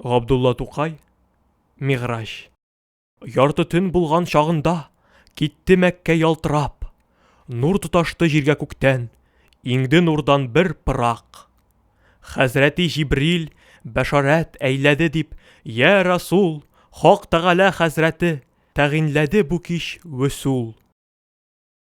Габдулла Тукай, Мигъраҗ. Ярты төн булган чагында, Китте Мәккә ялтырап. Нур тоташты җиргә күктән, Иңде нурдан бер пырак. Хәзрәти Җибрил, бәшарәт, әйләде дип, Йә Расул, Хак Тәгалә хәзрәте Тәгыйньләде бу кич вөсул.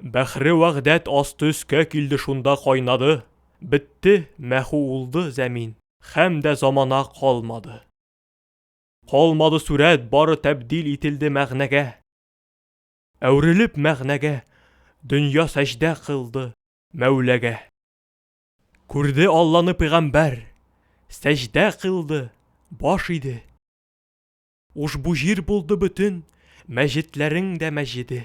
Бәхре вәхдәт асты өскә килде шунда кайнады, бетте, мәху улды зәмин, хәм дә замана калмады. Калмады сүрәт, бары тәбдил ителде мәгънәгә. Әүрелеп мәгънәгә, дөнья сәҗдә кылды Мәүләгә. Күрде Алланы пигамбәр, сәҗдә кылды, баш иде. Ушбу җир булды бөтен мәҗетләрең дә мәҗеде.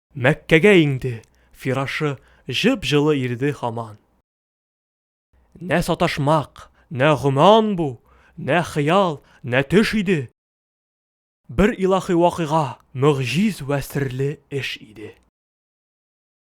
Мәккәгә иңде, фирашы җып-җылы ирде һаман. Нә саташмак, нә гөман бу, нә хыял, нә төш иде. Бер илаһи вакыйга, мөгъҗиз вә серле эш иде.